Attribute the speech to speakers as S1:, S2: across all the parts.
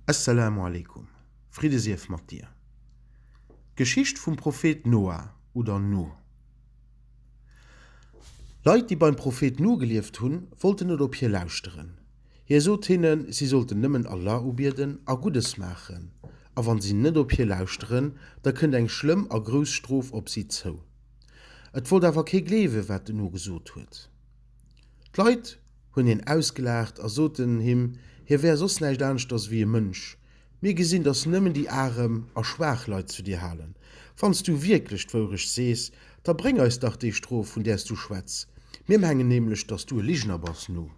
S1: Esselamu aleykum, Fridde sief mat dir! D'Geschicht vum Prophet Noah oder Nuh. Leit déi beim Prophet Nuh gelieft hunn, wollten net op hie lauschteren. Hie sot hinnen, si sollten nëmmen Allah ubieden a Guddes maachen, a wann si net op hie lauschteren, da kënnt eng schlëmm a grouss Strof op si zou. Et wollt awer kee gleewen, wat den Nuh gesot huet. D'Leit hunn hien ausgelaacht a soten him, hie wär soss näischt aneschters ewéi e Mënsch. Mir gesinn, dass s nëmmen déi arem a schwaach Leit zu dir halen. Wann s du wierklech d'Wourecht sees, da bréng eis dach déi Strof, vun där s du schwätz. Mir mengen nämlech, dass s du e Ligener bass. Nu!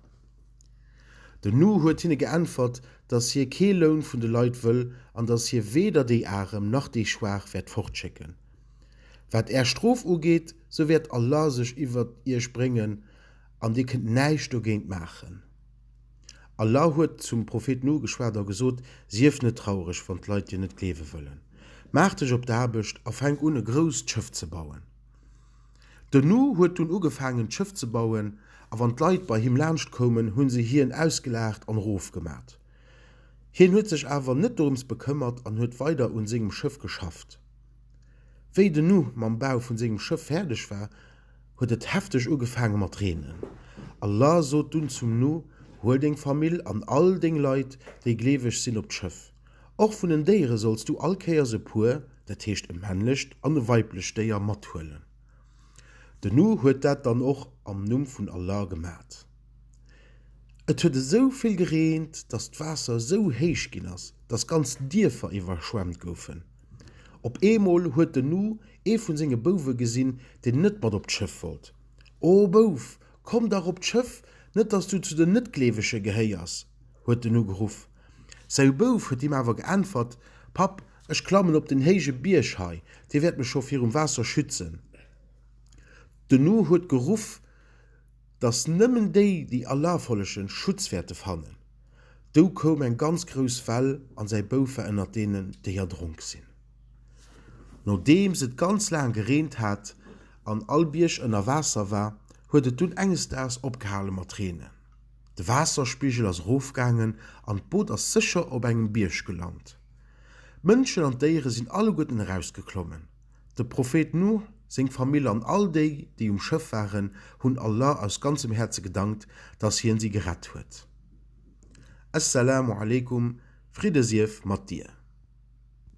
S1: Den Nu huet hinne geäntwert, dass hie kee Loun vun de Leit wëll an dass hie weder déi Arem nach déi Schwaach wäert fortschécken. Wat Är Strof ugeet, sou wäert Allah sech iwwert Iech bréngen an Dir kënnt näischt dogéint maachen. Allah huet zum Prophet Nuh geschwat a gesot, Sief net traureg, wann d'Leit Dir net gleewe wëllen. Maach dech op d'Aarbecht a fänk un e grousst Schëff ze bauen. Den Nuh huet dunn ugefaangen d'Schëff ze bauen, a wann d'Leit bei him laanscht koumen, hu se hien ausgelaacht an erof gemat. Hien huet sech awer net dorëms bekëmmert an huet weider un sengem Schëff geschafft. Wéi den Nu mam Bau vun sengem Schëff fäerdeg war, huet et hefteg ugefaange mat reenen. Allah sot dunn zum Nu, Huel deng Famill an all deng Leit, déi gleeweg sinn, op d'Schëff. Och vun den Déiere solls du all Kéiers e puer, dat heescht e männlecht an e weiblecht Déier, mathuelen. Den Nu huet dat dann och am Numm vun Allah gemat. Et huet esou vill gereent, dass d'Waasser esou héich ginn ass, dass ganz Dierfer iwwerschwemmt goufen. Op eemol huet den Nu ee vun senge Bouwe gesinn, deen net mat op d'Schëff wollt. O Bouf, komm dach op d'Schëff, net dass du zu den Net-Gleewege gehéiers! huet den Nu geruff. Säu Bouf huet him awer geäntwert, Papp, ech klammen op den héije Bierg hei, dee wäert mech scho virum Waasser schützen. Den Nu huet geruff, Dass nëmmen déi déi erlafollegen Schutz wäerte fannen. Dou koum eng ganz grouss Well an säi Bouf war ënnert deenen déi erdronk sinn. Nodeems et ganz laang gereent hat an all Bierg ënner Waasser war, huet et dunn enges Daags opgehale mat reenen. De Waasserspigel ass erofgaangen an d'Boot ass sécher op engem Bierg gelant. D'Mënschen an d'Déiere sinn alleguerten erausgeklommen. Dem Prophet Nuh, seng Famill an all déi, déi um Schëff waren, hunn Allah aus ganzem Häerze gedankt, dass Hien si gerett huet. As-Salaamu alaykum, Fridde sief mat dir!